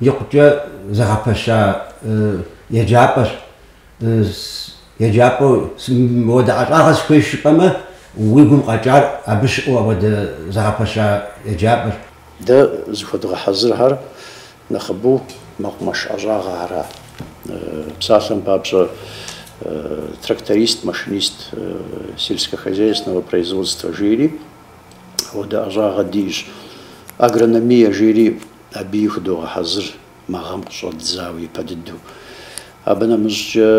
икъукӏэ зэгъэпэща еджапӏэщ. Еджапӏэу мыуэдэ ӏэщӏагъэ сыхуейщ жыпӏэмэ, уи гум къэкӏар абы щыӏэу апхуэдэ зэгъэпэща еджапӏэр. Дэ зыхуэдгъэхьэзырхэр нэхъыбэу мэкъумэш ӏэщӏагъэ ара? Псалъэм папщӏэ, тракторист-машинист сельскохозяйственного производства жери апхуэдэ ӏэщӏагъэ диӏэщ. Агрономие жери. Абыи худогъэхьэзыр мы гъэм къыщӏэддзауэ ипэ дыдэу. Абы нэмыщӏкӏэ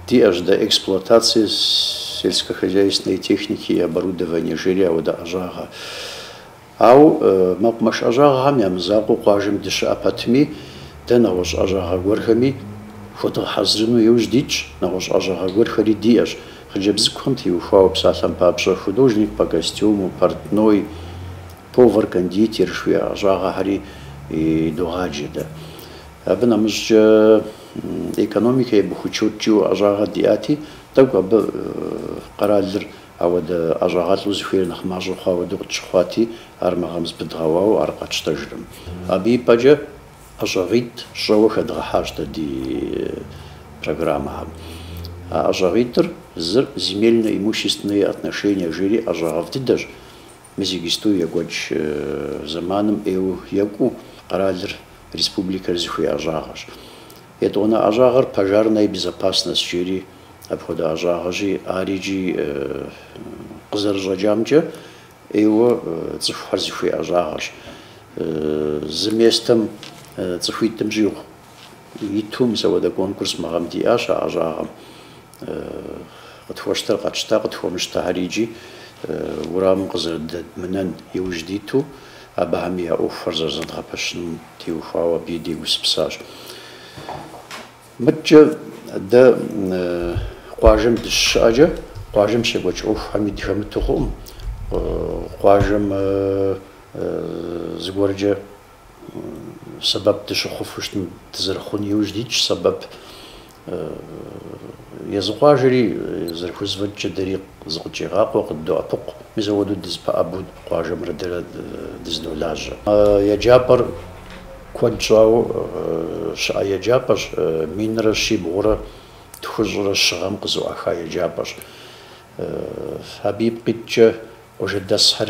диӏэщ дэ эксплуатацие сельскохозяйственной техники и оборудования жери ауэдэ ӏэщӏагъэ. Ауэ мэкъумэш ӏэщӏагъэхэм я мызакъуэу къуажэм дыщыӏэ пэтми, дэ нэгъуэщӏ ӏэщӏагъэ гуэрхэми худгъэхьэзырыну иужь дитщ, нэгъуэщӏ ӏэщӏагъэ гуэрхэри диӏэщ, Хъыджэбз цӏыкӏухэм теухуауэ псалъэм папщӏэ, художник по костюму, портной, повар, кондитер жыхуиӏэ ӏэщӏагъэхэри догъаджэ дэ. Абы нэмыщӏкӏэ экономикэ и бухучет жиӏэу ӏэщӏагъэ диӏати, тӏэкӏу абы къэралыр ауэдэ ӏэщӏагъэлӏу зыхуейр нэхъ мащӏэ хъуа хуэдэу къытщыхъуати, ар мы гъэм зэпыдгъэуауэ ар къэтщтэжыркъым. Абы и пӏэкӏэ ӏэщӏагъитӏ щӏэуэ хэдгъэхьащ дэ ди программэхэм. А ӏэщӏагъитӏыр, зыр земельно-имущественные отношения жери ӏэщӏагъэфӏ дыдэщ. Мис иджыпсту екӏуэкӏ зэманым ӏейуэ екӏуу къэралыр, республикэр зыхуей ӏэщӏагъэщ. Етӏуанэ ӏэщӏагъэр пожарная безопасность жери. Апхуэдэ ӏэщӏагъэщи, ари икӏи къызэрыщӏэкӏамкӏэ, Ӏейуэ цӏыхухэр зыхуей ӏэщӏагъэщ. Зы местэм цӏыхуитӏым щӏигъу иту мис апхуэдэ конкурс мы гъэм диӏащ а ӏэщӏагъэм. Къытхуэщтэр къэтщта, къытхуэмыщтэхэри икӏи уэрамым къызэрыдэдмынэн иужь диту абыхэми я ӏуэхухэр зэрызэдгъэпэщыным теухуауэ абыи дегупсысащ. Мыдкӏэ дэ къуажэм дыщыщыӏэкӏэ, къуажэм щекӏуэкӏ ӏуэхухэми дыхэмыту хъуӏым. Къуажэм зыгуэркӏэ сэбэп дыщыхъуфу щытым дызэрыхъун иужь дитщ сэбэп. Езы къуажэри зэрыхузэфӏэкӏкӏэ дэри зыкъыдщӏигъакъуэ, къыддоӏэпыкъу. Мис апхуэдэу дызэпэӏэбэу къуажэмрэ дэрэ дызэдолажьэ. Еджапӏэр Куэд щӏауэ щыӏэ еджапӏэщ, минрэ щибгъурэ тхущӏрэ щы гъэм къызэӏуаха еджапӏэщ. Абы ипкъ иткӏэ къуажэдэсхэр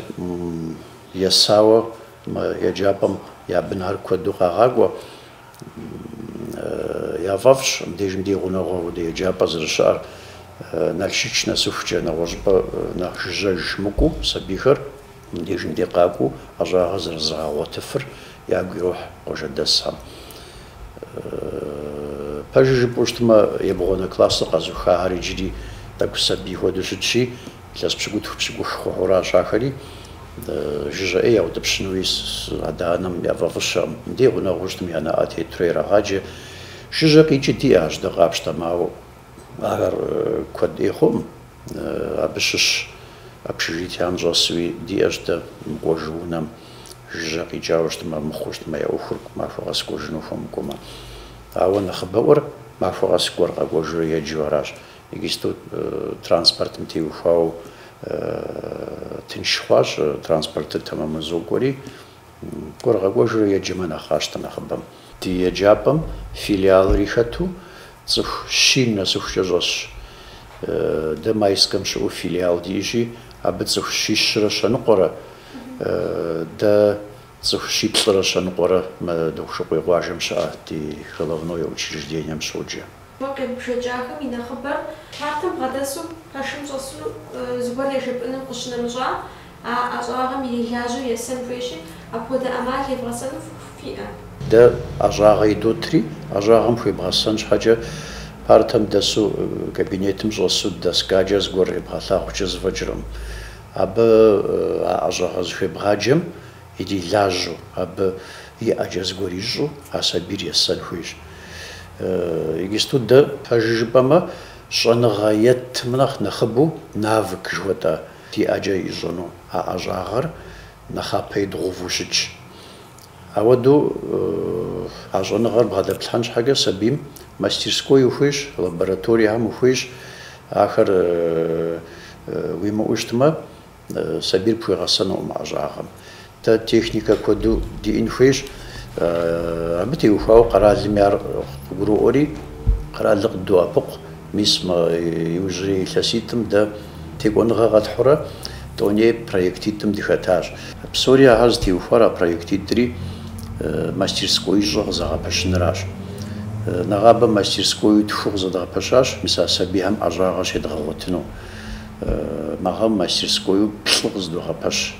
есауэ мы еджапӏэм я бынхэр куэду къагъакӏуэ. Яфӏэфӏщ мыбдежым ди гъунэгъуу апхуэдэ еджапӏэ зэрыщыӏэр. Налшыч нэсыхукӏэ нэгъуэщӏыпӏэ нэхъ жыжьэж мыкӏуу сабийхэр. Мыбдежым де къакӏуэу ӏэщӏагъэр зэрызрагъэгъуэтыфыр ягу ирохь къуажэдэсхэм. Пэжыр жыпӏэу щытмэ, ебгъуанэ классыр къэзыухахэр иджыри тӏэкӏу сабий хуэдэу щытщи, илъэс пщыкӏутху пщыкӏух хъухэуращ ахэри. Жыжьэ ӏей яутӏыпщынуи адэ-анэм яфӏэфӏыщэкъым. Мыдей гъунэгъуу щытым я нэӏэ тетурэ ирагъаджэ. Жыжьэ къикӏи диӏэщ дэ къапщтэмэ, ауэ ахэр куэд ӏей хъуӏым. Абы щыщ общежитиям щӏэсуи диӏэщ дэ, мыкӏуэжу унэм, жыжьэ къикӏауэ щытмэ, армыхъуу щытмэ, я ӏуэхур махуэ къэс кӏуэжыну хуэмыкӏуэмэ. Ауэ нэхъыбэӏуэр махуэ къэс кӏуэурэ къэкӏуэжурэ еджэу аращ. Иджыпсту транспортым теухуауэ тынш хъуащ, транспортыр тэмэму зокӏуэри. Кӏуэурэ къэкӏуэжурэ еджэмэ нэхъ къащтэ нэхъыбэм. Ди еджапӏэм филиалри хэту цӏыху щийм нэсыхукӏэ щӏэсщ. Дэ Майскэм щыӏэу филиал диӏэщи, абы цӏыху щищрэ щэныкъуэрэ, дэ цӏыху щиплӏрэ щэныкъуэрэ мы Дохъушыкъуей къуажэм щыӏэ ди головное учреждением щоджэ. Гур къебгъэджахэм и нэхъыбэр партэм бгъэдэсу пэшым щӏэсу зыгуэр ежепӏэным къыщынэмыщӏа, А ӏэщӏагъэм ирилажьэу есэн хуейщи, апхуэдэ ӏэмал евгъэсэну фӏыху фиӏэ? Дэ ӏэщӏагъэ идотри, ӏэщӏагъэм хуебгъэсэн щхьэкӏэ партэм дэсу, кабинетым щӏэсу доскакӏэ зыгуэр ебгъэлъагъукӏэ зэфӏэкӏыркъым. Абы а ӏэщӏагъэ зыхуебгъаджэм ирилажьэу, абы и ӏэкӏэ зыгуэр ищӏу а сабийр есэн хуейщ. Егисту дэ, пэжу жыпӏэмэ, щӏэныгъэ етым нэхъ нэхъыбэу навык жыхуэтӏа Ди ӏэкӏэ ищӏыну а ӏэщӏагъэр нэхъапэ идгъэуву щытщ. Ауэдэу а щӏэныгъэр бгъэдэплъхьэн щхьэкӏэ сабийм мастерской ухуейщ, лабораториехэм ухуейщ. Ахэр уимыӏэу щытмэ, сабийр пхуегъэсэнукъым ӏэщӏагъэм. Дэ техникэ куэду диӏын хуейщ, абы теухуауэ къэралми ар къыгуроӏуэри, къэралыр къыддоӏэпыкъу. Мис мы иужьрей илъэситӏым дэ текӏуэныгъэ къэтхьурэ тӏоней проектитӏым дыхэтащ. Псори ахэр зытеухуар а проектитӏри мастерскоищӏэ къызэгъэпэщыныращ. Нэгъабэ мастерскою тху къызэдгъэпэщащ, мис а сабийхэм ӏэщӏагъэ щедгъэгъуэтыну. Мы гъэм мастерскою плӏы къызыдогъэпэщ.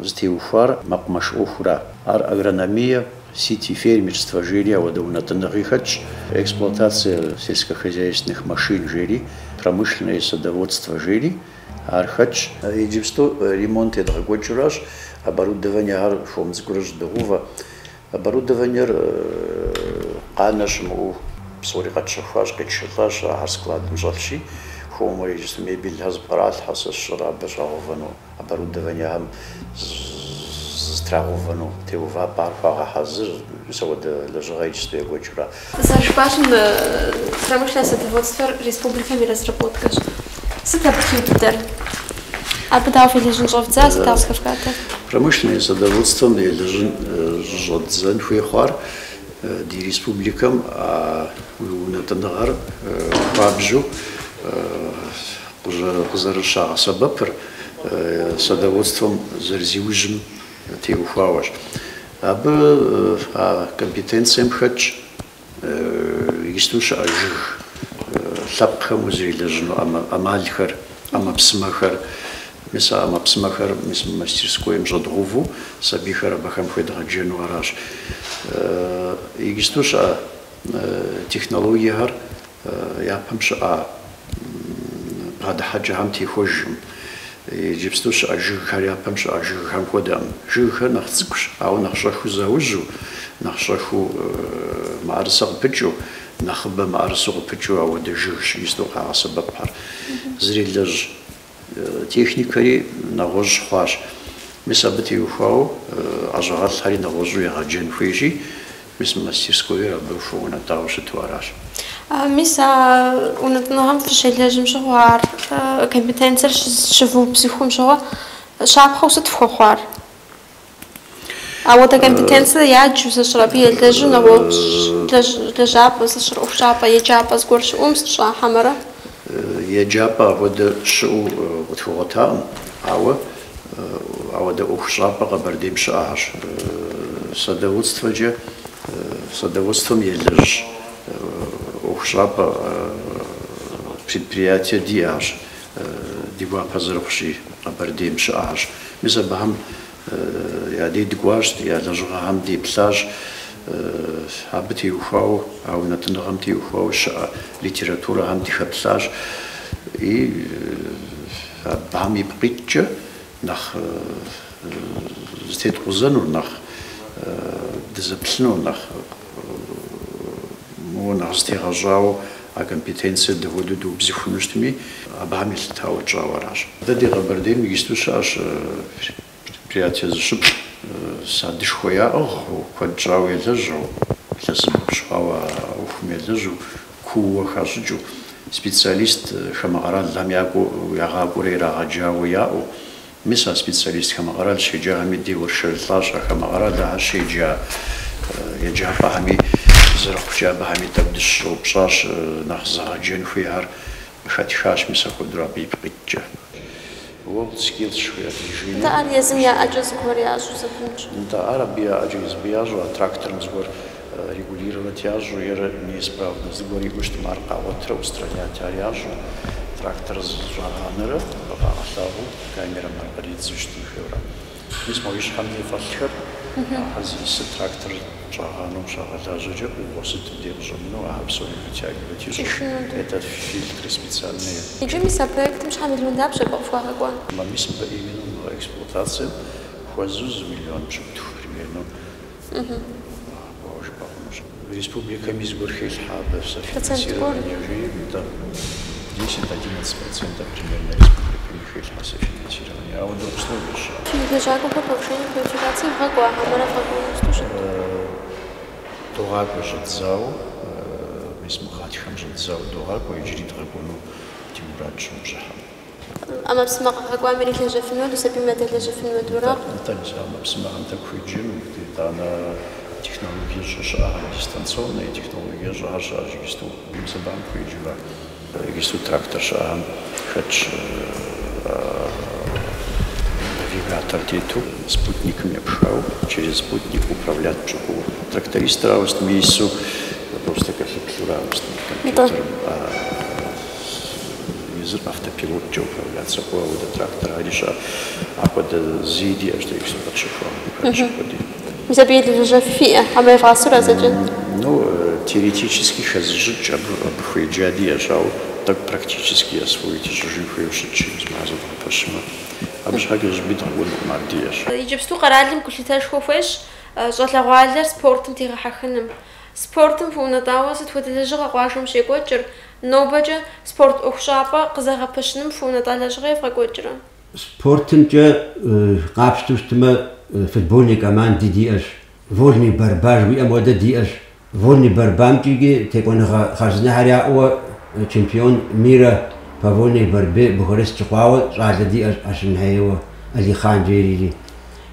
Зытеухуар мэкъумэш ӏуэхура? Ар агрономие, сити-фермерство жери ауэдэ унэтӏыныгъи хэтщ, эксплуатация сельскохозяйственных машин жери, промышленное садоводство жери, ар хэтщ. Иджыпсту ремонт едгъэкӏуэкӏыуращ, оборудованиехэр хуэм цӏыкӏуурэ щӏыдогъэувэ. Оборудованиер къанэ щымыӏэу псори къэтщэхуащ, къетшэлӏащ, ахэр складым щӏэлъщи, хуэмурэ иджыпсту мебельхэр зыпкъралъхьэ, сэ сщӏэрэ абы щӏагъэувэну. Оборудованиехэм зытрагъэувэну теувапӏэр хуагъэхьэзыр, мис апхуэдэ лэжьыгъэ иджыпсту екӏуэкӏыурэ. Зэрыжыпӏащи, промышленное садоводствэр республикэм и разработкэщ. Сыт абы и тхыдэр? Абы дауэ фелэжьын щӏэвдза, сыт ауэ зыхэвгатэр? Промышленное садоводствэм елэжьын щӏэддзэн хуей хъуар ди республикэм а унэтӏыныгъэр хуабжьу Къызэрыщагъэсэбэпыр садоводствэм зэрызиужьым теухуауэщ. Абы а компетенцием хэтщ исту щыӏэ жыг лъэпкъхэм узэрелэжьыну ӏэмалхэр, ӏэмэпсымэхэр. Мис а ӏэмэпсымэхэр мис мы мастерскоим щӏэдгъэуву сабийхэр абыхэм хуедгъэджэну аращ. Исту щыӏэ технологиехэр. Япэм щыӏа бгъэдыхьэкӏэхэм техуэжкъым. Иджыпсту щыӏэ жыгхэр япэм щыӏа жыгхэм хуэдэкъым. Жыгхэр нэхъ цӏыкӏущ, ауэ нэхъ щӏэхыу заужьу, нэхъ щӏэхыу мыӏэрысэ къыпыкӏыу, нэхъыбэ мыӏэрысэу къыпыкӏыу ауэдэ жыгщ исту къагъэсэбэпхэр. Зэрелэжь. Техникэри нэгъуэщӏ хъуащ. Мис абы теухуауэ ӏэщӏагъэлӏхэри нэгъуэщӏу егъэджэн хуейщи, мис мастерскойр абы хуэунэтӏауэ щыту аращ. Мис а унэтӏыныгъэм фыщелэжьым щыгъуэ, ар компетенцэр щывыубзыхум щыгъуэ, щапхъэу сыт фхуэхъуар? Ауэдэ компетенцэ яджу зыщӏыр абы елэжьу нэгъуэщӏ лэжьапӏэ зыщӏыр ӏуэхущӏапӏэ, еджапӏэ зыгуэр щыӏум сыт щӏа хьэмэрэ? Еджапӏэ апхуэдэ щыӏэу къытхуэгъуэтакъым, ауэ ауэдэ ӏуэхущӏапӏэ Къэбэрдейм щыӏэхэщ. Садоводствэкӏэ, садоводствэм елэжь ӏуэхущӏапӏэ предприятие диӏэщ. Ди гуапэ зэрыхъущи, Къэбэрдейм щыӏэхэщ. Мис абыхэм я дей дыкӏуащ, я лэжьыгъэхэм деплъащ. Абы теухуауэ, а унэтӏыныгъэм теухуауэ щыӏэ литературэхэм дыхэплъащ. И абыхэм ипкъ иткӏэ нэхъ зытеткъузэнур, нэхъ дызэплъынур, нэхъ Моуэ нэхъ зытегъэщӏауэ а компетенциер дапхуэдэу дыубзыхуну щытми, абыхэм елъытауэ тщӏауэ аращ. Дэ ди Къэбэрдейм иджысту щыӏэщ предприятие зыщыплӏ, садышхуэ яӏыгъыу, куэд щӏауэ елэжьэу, илъэсипщӏ хъуауэ а ӏуэхум елэжьэу, кууэ хащӏыкӏыу, специалист хамэ къэралхэм якӏуэу, ягъакӏуэрэ ирагъэджауэ яӏэу, Мис а специалист хамэ къэрал щеджахэми деуэршэрылӏащ, а хамэ къэрал ахэр щеджа еджапӏэхэми зэрыхъукӏэ абыхэми тӏэкӏу дыщыщӏэупщӏащ, нэхъ зэгъэджэн хуейхэр къыхэтхащ мис апхуэдэу абы ипкъ иткӏэ. World Skills жыхуиӏэр ди Женя Нтӏэ, ар езым я ӏэкӏэ зыгуэр ящӏу зэпынкӏ. Нтӏэ, ар абы я ӏэкӏэ зыбы ящӏу, а тракторым зыгуэр. регулировать ящӏу е неисправно зыгуэр иӏэу щытмэ, ар къагъуэтырэ устранять ящӏу, трактор зэщӏагъанэрэ къывагъэлъагъуу камерэм ар къридзу щытын хуейуэра. Мис моуэ и щхьэм дей фӏэлъхэр, ахэр зиӏысыр трактор щӏагъанэу щагъэлажьэкӏэ ӏугъуэ сыт мыбдей къыщӏэмынэу ахэр псори вытягивать ищӏу, это фильтры специальные. Иджы мис а проектым щхьэ миллион дапщэ къыфхуагъэкӏуа? Мис мыбы именно мы эксплуатацием хуэзэу зы миллион пщыкӏутху примерно. Республикэми зыгуэр хелъхьэ абы софинансирование жиӏэу? Нтӏэ. Десять, одиннадцать процентов примерно республикэми хелъхьэ софинансирование. Ауэдэ условие щыӏэ. Фи лэжьакӏуэхэр повышение квалификации вгъэкӏуа, хьэмэрэ вгъэкӏуэну щыт? Догъакӏуэ щӏэдзауэ, мис мы гъатхэм щӏэдзауэ догъакӏуэ иджыри дгъэкӏуэну ди мурадщ мы бжьыхьэм. ӏэмэпсымэ къыхэкӏуам ирилэжьэфынуэт, сабийм ядэлэжьэфынуэт уэрэгъу. Дэтӏэнщ ӏэмэпсымэхэм тӏэкӏу хуеджэмэ. Итӏанэ технологиещӏэ щыӏэхэм, дистанционные технологиещӏэхэр щыӏэщ иджысту. Мис абым хуеджэмэ, иджысту трактор щыӏэхэм хэтщ навигатор тету, спутникым епхауэ, через спутник управлять пщӏы хъууэ. Трактористыр ауэ сытми ису, просто кэлъыплъурэ ауэ сытми компьютерым. Езыр автопилоткӏэ управляться хъууэ ауэдэ трактор ари щыӏэ. Апхуэдэ зыи диӏэщ дэ Юпсэм къэтщэхуам, Мухьэдыщэ къудей. Мис абы ирилажьэ фиӏэ, хьэмэ евгъасэу ара зэкӏэ? Ну, теоретически хэзыщӏыкӏ, абы абы хуеджа диӏэщ, ауэ тӏэкӏу практически освоить ищӏыжын хуейуэ щытщи, мис мыхьэ зэдгъэпэщмэ, абы щхьэкӏэ зыщӏыпӏи дгъэкӏуэнукъым, ар диӏэщ. Иджыпсту къэралым гулъытэшхуэ хуещӏ щӏалэгъуалэр спортым дегъэхьэхыным. Спортым хуэунэтӏауэ сыт хуэдэ лэжьыгъэ къуажэм щекӏуэкӏыр? Нобэкӏэ спорт ӏуэхущӏапӏэ къызэгъэпэщыным хуэунэтӏа лэжьыгъэ евгъэкӏуэкӏрэ? Спортымкӏэ къапщтэу щытымэ, футбольный команди диӏэщ, вольный борьба жыхуиӏэм хуэдэ диӏэщ. Вольный борьбамкӏи икӏи текӏуэныгъэ хъарзынэхьэр яӏэуэ чемпион мира по вольной борьбе Бухарест щыхъуауэ щӏалэ диӏэщ Ашынхэ ейуэ Алихъан жери.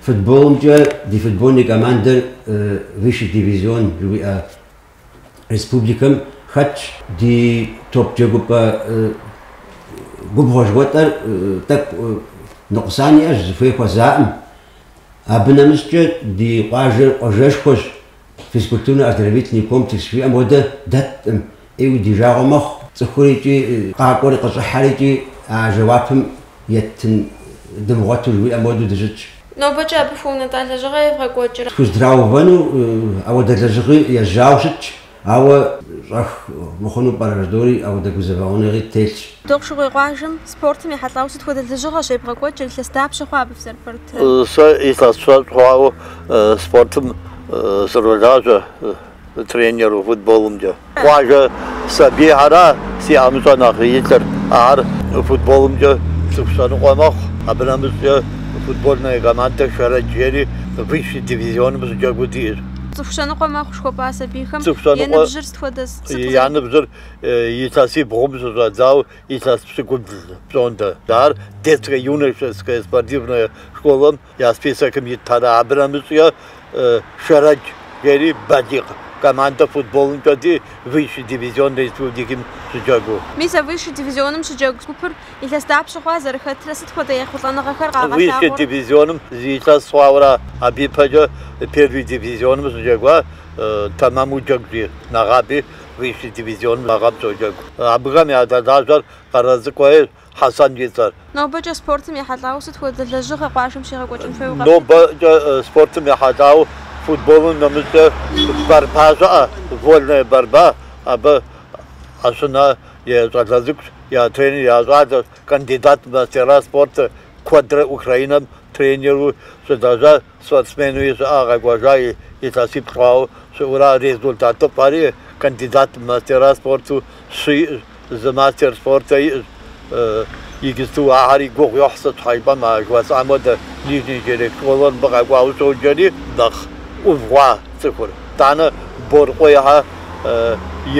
Футболымкӏэ ди футбольный командэр высший дивизион жыхуиӏэ Республикэм хэтщ ди топ-джэгупӏэ губгъуэ жыхуэтӏэр, тӏэкӏу ныкъусан иӏэщ, зыхуей хуэзаӏым. Абы нэмыщӏкӏэ ди къуажэр къуажэшхуэщ, физкультурно-оздоровительный комплекс жыхуиӏэм хуэдэ дэткъым, ӏейуэ ди жагъуэ мэхъу, цӏыхур икӏи къакӏуэри къыщӏыхьэри икӏи а жэуапым еттын дымыгъуэту жыхуиӏэм хуэдэу дыщытщ. Нобэкӏэ абы хуэунэтӏа лэжьыгъэ евгъэкӏуэкӏрэ? Тхузэдраувэну ауэдэ лэжьыгъи ежьауэ щытщ, ауэ щӏэх мыхъуну пӏэрэ жыдори ауэдэ гузэвэгъуэныгъи телъщ. Дохъушыкъуей къуажэм спортым ехьэлӏауэ сыт хуэдэ лэжьыгъэщ евгъэкӏуэкӏыр, илъэс дапщэ хъуа абы фызэрыпэрытрэ? Сэ илъэс щэщӏ хъуауэ спортым сролажьэ. Тренеру футболымкӏэ къуажэ сабийхьэра си ӏэмыщӏэ нэхъ илъыр. Ар футболымкӏэ цӏыху щэныкъуэ мэхъу. Абы нэмыщӏкӏэ футбольная командэ Шэрэдж жери высший дивизионым щыджэгуу диӏэщ. Цӏыху щэныкъуэ мэхъу жыхуэпӏа сабийхэм я ныбжьыр сыт хуэдиз? Я ныбжьыр илъэси бгъум щыщӏэдзауэ илъэс пщыкӏубл пщӏондэ. Ар Детская-юношеская спортивная школэм Я списокым итыр ара, абы нэмыщӏкӏэ Шэрэдж жери балигъ командэ футболымкӏэ диӏэ, Высший дивизион республикэм щыджэгуу. Мис а Высший дивизионым щыджэгу гупыр илъэс дапщэ хъуа, зэрыхэтрэ, сыт хуэдэ ехъулӏэныгъэхэр къагъэлъагъуэр? Высший дивизионым зы илъэс хъуауэ ара, абы ипэкӏэ Первый дивизионым щыджэгуа тэмэму джэгужри нэгъаби Высший дивизионым мы гъэм щоджэгу. Абыхэм ядэлажьэр Къэрэ Цӏыкӏуейр. Хьэсэн и цӏэр. Нобэкӏэ спортым ехьэлӏауэ сыт хуэдэ лэжьыгъэ къуажэм щегъэкӏуэкӏын хуейуэ къэплъытэр? Нобэкӏэ спортым ехьэлӏауэ футболым нэмыщӏкӏэ борьба щыӏэ, вольная борьба. Абы Ӏэщынэ я щӏалэ цӏыкӏущ, я тренер я щӏалэщ, кандидат в мастера спорта куэдрэ Украинэм тренеру щылэжьащ, Спортсмену щыӏа къэкӏуэжа илъэсипщӏ хъуауэ щыӏура результатыфӏэри, кандидат мастера спорту щы иӏэщ, зы мастер спорта иӏэщ. Иджыпсту ахэри гугъу йохь сыт щхьэ жыпӏэм, а жыхуэсӏам хуэдэ Нижний Черек школыр мыбы къэкӏуауэ щоджэри нэхъ ӏув хъуа цӏыхур. Итӏанэ Боркъуейхьэ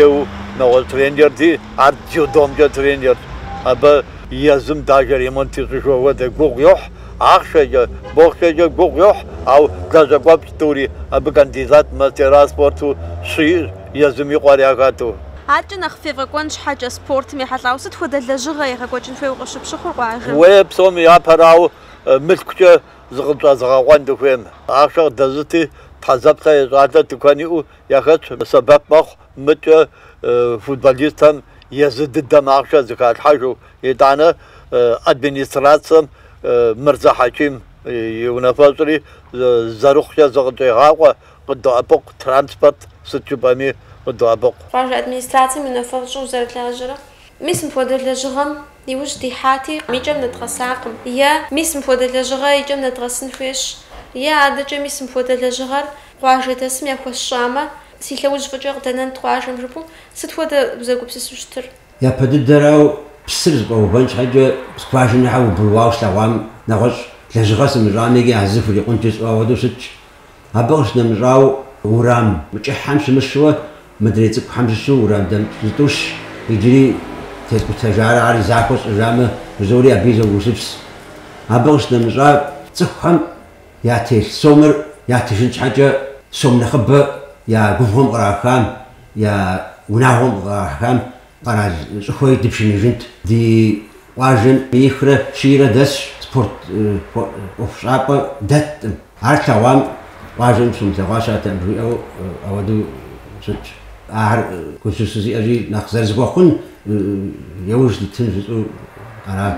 еу нэгъуэщӏ тренерти, ар дзюдомкӏэ тренерщ, абы езым даже ремонт ищӏыжу хуэдэ гугъу йохь. Ахъшэкӏэ, бохъшэкӏэ гугъу йохь, ауэ лэжьакӏуэфӏщ тӏури, абы кандидат мастера спорту щы иӏэщ, езым и къуэр яхэту. Адэкӏэ нэхъ ефӏэкӏуэн щхьэкӏэ, спортым ехьэлӏауэ сыт хуэдэ лэжьыгъэ егъэкӏуэкӏын хуейуэ къыщыпщыхъур къуажэм? Уей, псоми япэрауэ, мылъкукӏэ зыкъытщӏэзыгъэкъуэн дыхуейм. Ахъшэ къыдэзыти, Тхьэзэплъэ я щӏалэ тыкуэн иӏэу яхэтщ, сэбэп мэхъу мыкӏэ футболистхэм езы дыдэм ахъшэ зыхалъхьэжу. Итӏанэ администрацэм Мырзэ Хьэким и унафэщӏри зэрыхъукӏэ зыкъытщӏегъакъуэ, къыдоӏэпыкъу транспорт сыт жыпӏэми къыдоӏэпыкъу. Къуажэ администрацэм и унафэщӏу узэрылажьэрэ, мис мыпхуэдэ лэжьыгъэм и ужь дихьати, и кӏэм нэдгъэсакъым. Е, Мис мыпхуэдэ лэжьыгъэр и кӏэм нэдгъэсын хуейщ. Е, Адэкӏэ мис мыпхуэдэ лэжьыгъэр къуажэдэсым яхуэсщӏамэ, си лъэужь фӏыкӏэ къыдэнэнт къуажэм, жыпӏэу сыт хуэдэ узэгупсысу щытыр? Япэ дыдэрауэ псыр зэфӏэувэн щхьэкӏэ скважинэхьэр убруауэ слъэгъуам нэгъуэщӏ лэжьыгъэ сымыщӏами, иджы а зы хурикъунт жысӏэу ауэдэу щытщ. Абы къыщынэмыщӏауэ, уэрам кӏыхьхэм щымыщу, мыдрей цӏыкӏухэм щыщу уэрам дэмыкӏ зытӏущ, иджыри тескӏутэжарэ ар захуэ сщӏыжамэ, жызоӏэри абыи зогусыпс. Абы къыщынэмыщӏа, цӏыхухэм ятелъ сомыр ятыжын щхьэкӏэ сом нэхъыбэ я губгъуэм кърахам, я унагъуэм кърахам къэрал щӏыхуэри дыпшыныжынт. Ди къуажэм минихрэ щийрэ дэсщ спорт ӏуэхущӏапӏэ дэтым. Ар тлъэгъуам къуажэм щымылъэгъуа щыӏэтэм, жиӏэу ауэдэу щытщ. Ахэр курсу щызиӏэри нэхъ зэрызыхуэхъун и ужь дытын жысӏэу арат.